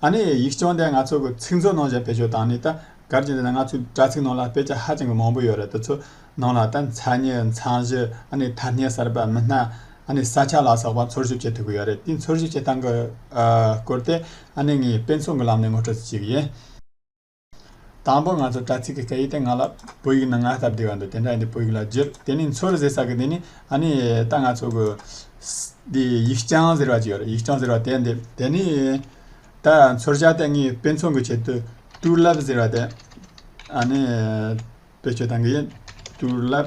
ཨ་ནི་ཡིག་སྐྱོང་དེ་ང་ཚོ་གི་ཚིག་མཛོད་ནང་བཞག་བེད་སྤྱོད་བཏང་ནས་ད་གར་གྱི་འདི་ན་ང་ཚོའི་དྲ་ཚིག་ནང་ལ་དཔེ་ཆ་ཧ་ཅང་གི་མང་པོ་ཡོད་རེད་དེ་ཚོ་ནང་ལ་ད་མཚན་ཉིད་མཚང་གཞི་ཨ་ནི་ཐ་སྙད་གསར་པ་མི་སྣ་ཨ་ནི་ས་ཆ་ལ་སོགས་པ་འཚོལ་ཞིབ་བྱེད་ཐུབ་གི་ཡོད་རེད་དེ་འཚོལ་ཞིབ་བྱེད་སྟངས་གི་སྐོར་དེ་ཨ་ནི་ངས་དཔེ་མཚོན་གི་ལམ་ནས་ངོ་སྤྲོད་བྱེད་ཀྱི་ཡིན། དང་པོ་ང་ཚོ་དྲ་ཚིགས་ཀྱི་སྐད་ཡིག་དེ་ང་ལ་བོད་ཡིག་ནང་སྔར་ལྟར་བསྡུས་པ་འདུག་དེ་འདྲ་ཡིན་དུས་བོད་ཡིག་ལ་བསྒྱུར་དེ་ནི་མཚོ་རུ་ཟེར་ས་གི་དེ་ནི་ཨ་ནི་ད་ང་ཚོ་གི། འདི་ཡིག་སྤྱང་ཟེར་བ་ཅིག་ཡོད་རེད་ཡིག་སྤྱང་ཟེར་བ་དེ་འདེབས་དེ་ནི། ད་མཚོར་ཤར་ཏེ་ངའི་དཔེ་མཚོན་གྱི་ཆེད་དུ་ཏུའུ་ལབ་ཟེར་བ་དེ། ཨ་ནི། བེད་སྤྱོད་དང་གི་ཡིན་ཏུའུ་ལབ།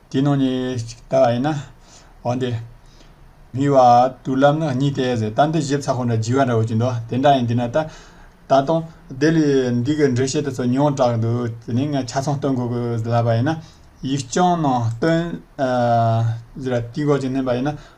དེའི་ནང་ནས་གཅིག་ལྟ་བ་ཡིན་ན། འོན་ཏེ། མིག་བ་དུར་ལམ་ནི་གཉིས་ཏེ་ཟེར། རྟ་འདི་བཞི་བཙའ་ཁོ་འདྲ་བགྱི་བ་འདྲ་བོ་ཅི་འདོད་དེ་འདྲ་ཡིན་དེས་ན་ལྟ། ད་དུང། དེ་ལས་འདི་གི་འགྲེལ་བཤད་དུ་ཚོ་ཉུང་དྲགས་འདུག་དེ་ནི་ང་ཆ་ཚང་སྟོན་དགོས་དགོས་ལབ་པ་ཡིན་ན། ཡིག་རྐྱང་ནང་སྟོན། དེ་ལ་དུས་འགོག་ཅིག་བསྣན་པ་ཡིན་ན།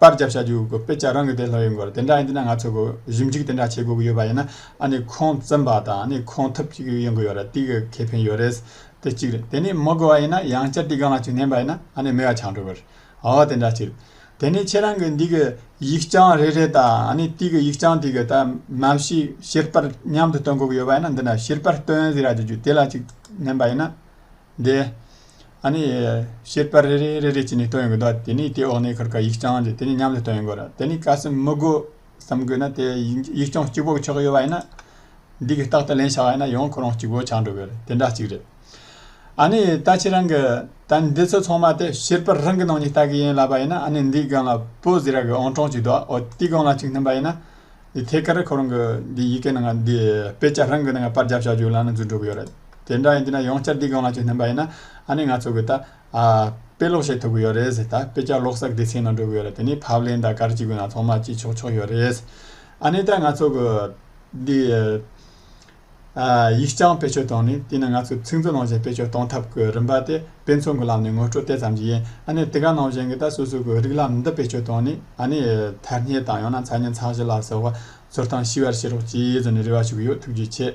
པར་བརྒྱབ་བྱ་རྒྱུ་དགོས་དཔེ་ཆ་རང་གི་དེ་ལྷག་ཡོད་དགོས་རེད་དེ་འདྲ་ཡིན་དུས་ན་ང་ཚོ་དགོས་གཞུང་གཅིག་དེ་འདྲ་བྱེད་དགོས་ཀྱི་ཡོད་པ་ཡིན་ན་ཨ་ནི་ཁོང་བཙན་པ་དང་ནི་ཁོང་ཐབས་ཅིག་ཡོད་དགོས་ཡོད་རེད་དེ་གི་ཁེ་ཕན་ཡོད་རེད་དེ་གཅིག་རེད་དེ་ནི་མི་དགོས་བ་ཡིན་ན་ཡང་བསྐྱར་དེ་གང་ལ་ཅིག་བསྣན་པ་ཡིན་ན་ཨ་ནི་མི་ཡ་ཆང་འགྲོ་དགོས་རེད་ཨ་དེ་འདྲ་ཅིག་རེད་དེ་ནི་ཁྱེད་རང་གི་འདི་གི་ཡིག་རྐྱང་རེ་རེ་དང་ཨ་ནི་དེ་གི་ཡིག་རྐྱང་དེ་གི་ད་མ་ཤི་ཤེར་པར་མཉམ་དུ་སྟོན་དགོས་ཀྱི་ཡོད་པ་ཡིན་ན་འདི་འདྲ་ཤེར་པར་སྟོན་ཟེར་ར་ཅིག་རྒྱུ་དེ་ལ་ཅིག་བསྣན་པ་ཡིན་ན། འདི། ཨ་ནི། བཤད་པར་རེ་རེ་རེ་རེ་བྱས་ནས་བཏོན་ཡོང་གི་འདུག་དེ་ནས་དེ་འོག་ནས་ཁར་ཁར་ཡིག་རྐྱང་དེ་དེ་ནས་མཉམ་དུ་བཏོན་ཡོང་དགོས་རེད་དེ་ནས་གལ་སྲིད་མི་དགོས་བསམ་དགོས་ན་དེ་ཡིག་རྐྱང་གཅིག་པོ་ཆགས་ཡོད་པ་ཡིན་ན། འདི་གི་རྟག་ཏུ་ལེན་ཆགས་ཡོད་ན་ཡང་ཁོ་རང་གཅིག་པོ་ཆགས་འགྲོ་གི་རེད་དེ་འདྲ་གཅིག་རེད། ཨ་ནི་ད་ཁྱེད་རང་གི་ད་འདི་ཚོ་ཚང་མ་དེ་བཤད་པར་རང་གི་ནང་ནས་ལྟ་གི་ཡིན་ལབ་པ་ཡིན་ན་ཨ་ནི་འདི་སྒང་ལ་པོ་ཟེར་ཡག་གི་ཨང་གྲངས་གཅིག་འདུག་ཨོ་དེ་སྒང་ལ་གཅིག་མཐུན་པ་ཡིན་ན། འདི་ཐད་ཀར་ཁོ་རང་གི་འདི་ཡི་གེ་ནང་ང་འདི་དཔེ་ཆ་རང་གི་ནང་པར་རྒྱབ་བྱ་རྒྱུ་ལ་ནི་འཛུལ་འགྲོ་གི་ཡོད་རེད། དེ་འདྲ་ཡིན་དུས་ན་ཡོང་བསྐྱར་འདི་སྒང་ལ་ཅིག་སྣོན་པ་ཡིན་ན་ཨ་ནི་ང་ཚོ་གི་ད་དཔེ་ཀློག་བྱེད་ཐུབ་གི་ཡོད་རེད་ཟེར་ད་དཔེ་ཆ་ཀློག་ས་སྡེ་ཚན་ནང་འགྲོ་གི་ཡོད་རེད་དེ་ནི་ཕབ་ལེན་དང་གར་གྱི་དགོས་ན་ཚང་མ་བྱེད་ཆོག་ཆོག་ཡོད་རེད། ཨ་ནི་ད་ང་ཚོ་གི་འདི། ཡིག་རྐྱང་བེད་སྤྱོད་བཏང་ནས་དེ་ནི་ང་ཚོས་ཚིག་མཛོད་ནང་བཞིན་བེད་སྤྱོད་གཏོང་ཐབས་ཀྱི་རིམ་པ་དེ་དཔེ་མཚོན་གྱི་ལམ་ནས་ངོ་སྤྲོད་དེ་ཙམ་གྱིས་ཡིན། ཨ་ནི་དེ་ག་ནང་བཞིན་གྱི་ད་གཟོད་གཟུགས་ཀྱི་རིགས་ལམ་འདི་བེད་སྤྱོད་བཏང་ནས་ཨ་ནི་ཐལ་སྙད་དང་ཡང་ན་མཚན་སྙན་ཚང་བཞི་ལ་སོགས་པ་ཚུར་བཏང་ཤེས་པར་བྱེད་རོགས་ཅེས་བརྫུ་ནས་རེ་བ་ཞུ་གི་ཡོད་ཐུགས་རྗེ་ཆེ།